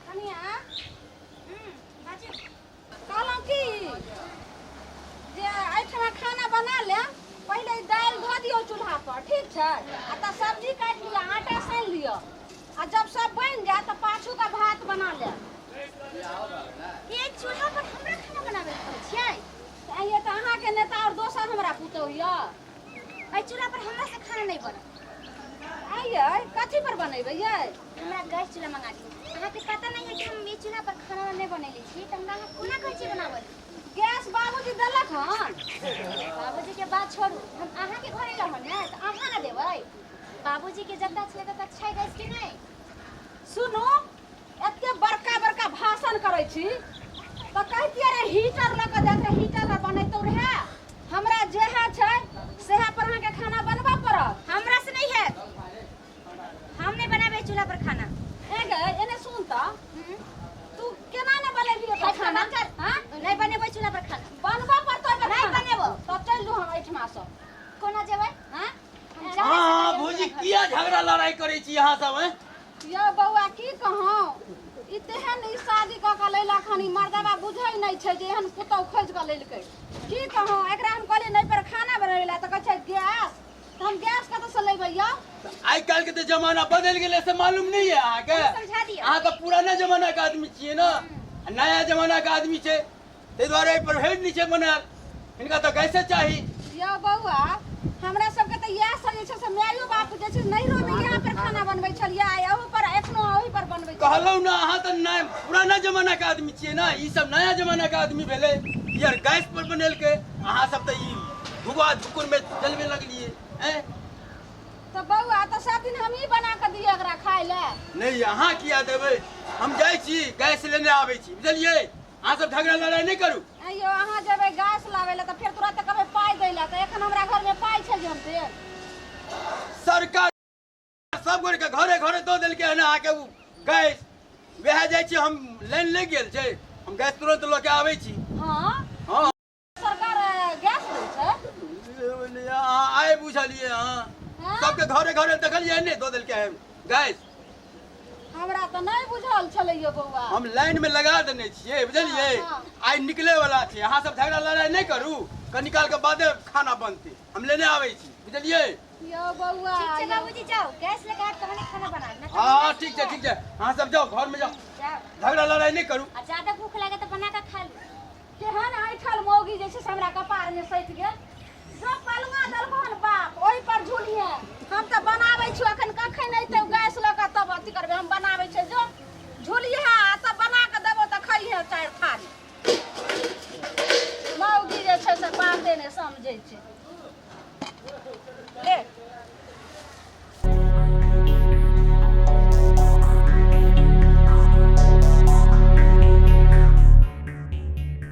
कनिया हम्म, बाजू। कहलहुँ कि जे एहिठाम खाना बना ले पहिले ई दालि धो दियौ चूल्हा पर ठीक छै आ तऽ सब्जी काटि लिअ आटा सानि लिअ आ जब सब बनि जाय तऽ पाछू का भात बना ले ये चूल्हा पर हमरा खाना बनाबे के कहै छियै तऽ आइए तऽ अहाँके नेता आओर दोसर हमरा पुतहु यऽ एहि चूल्हा पर हमरा से खाना नहीं बनत आइए कथी पर बनेबै ये हमरा गैस चूल्हा मंगा दियौ अहाँके पता नहीं है कि हम ई चूल्हा पर खाना नहीं बनेले छी तऽ हमरा अहाँ कोना कहै छी बनाबऽ लेल? गैस बाबूजी देलक हन बाबूजी के बात छोड़ू हम अहाँ के घरे रहन है तऽ अहाँ ना देबै बाबूजी के जतऽ छलै ततऽ छै गैस कि नहीं सुनू एते बड़का बड़का भाषण करै छी तऽ कहतियै रे हीटर लऽ कऽ जाइत रे हीटर लऽ बनैतौ रहए हमरा जेह छै सेह पर अहाँके खाना बनबऽ पड़त हमरा से नहीं है हम नहीं बनाबे चूल्हा पर खाना ए गे एने सुन तऽ हम्म, तू केना ने बनेबी ओकर खाना खाना कर हाँ? नहीं बनेबे चूल्हा पर खाना बनबऽ पड़तौ ओकर नहि खाना। बनेबो। तब चलि जो हम एहिठमा सँ कोना जेबै हाँ? हम जा हाँ नहीं हाँ सकैए भौजी चूल्हा पर। किया झगड़ा लड़ाई करे छी यहाँ सब हैं? यौ बौआ की कहौं ई तेहन ई शादी कऽ कऽ लैलक हन ई मर्दबा बुझै नहि छै जे एहन पुतहु खोजि कऽ लेलकै की कहौं एकरा हम कहलियै नहि पर खाना बनबै लए तऽ कहै छै गैस तऽ हम गैस कतऽसँ लेबै यौ आइ काल्हि के तऽ जमाना बदल गेलै से मालूम नहीं है अहाँके समझा दिअ। अहाँ तऽ पुराना जमाना के आदमी छियै ने आ नया जमाना के आदमी छै ताहि दुआरे एहिपर हेड नहि छै बनायल हिनका तऽ गैसे चाही यौ बौआ हमरा सबके तऽ इएह सब जे छै से मायो बाप जे छै नैहरो मे इएह पर खाना बनबै छलियै आ एहू पर एखनो ओही पर बनबै छियै। कहलहुँ ने अहाँ तऽ नया पुराना जमाना के आदमी छियै ने ई सब नया जमाना के आदमी भेलै ई आर गैस पर बनेलकै अहाँ सब तऽ ई धुआ धुकुर में जलवे लगलियै हैं तऽ बौआ तऽ सब दिन हमही बना कऽ दियै ओकरा खाय लए नहि अहाँ किया देबै हम जाइ छी गैस लेने आबै छी बुझलियै अहाँ सब झगड़ा लड़ाई नहीं करू ऐं यौ अहाँ जेबै गैस लाबै लए तऽ फेर तुरंत कहबै पाइ दै लए तऽ एखन हमरा घरमे पाइ छै जे हम देब सरकार सब गोरे के घरे घरे दो दिल के है ना आके उ गैस वह जाय छी हम लाइन लग गेल छै हम गैस तुरंत लऽ के आबै छी हँ हाँ सरकार गैस दै छै आए बुझलिए हां हाँ? सबके घरे घरे देखलिए ने दो दिल के है गैस हमरा तऽ नहि बुझल छलैया बौआ हम लाइन में लगा देने छिए बुझलिए हाँ, हाँ। आइ निकले वाला छै अहाँ सब झगड़ा लड़ाई नहीं करू कनी काल के बादे खाना बनते हम लेने आवे छी बुझलिए यौ बौआ ठीक छै यौ। बाबूजी जाओ गैस लेके आब तहने खाना बनाब ना हां ठीक छै ठीक छै अहाँ सब जाओ घर में जाओ जाओ झगड़ा लड़ाई नहीं करू आ ज्यादा भूख लगे तो बना के खा लो केहन ऐठल मौगी जे छै से हमरा कपार में सटि गेल जो पलुआ देलको हन बाप ओहि पर झूलिए हम तऽ बनाबै छी अखन कखन अयतै गैस लऽ कऽ तब अथी करबै हम बनाबै छै जो झूलिए आ तब बना कऽ देबो तऽ खइहे चारि थारी मौगी जे छै से बाते नहि समझै छै ले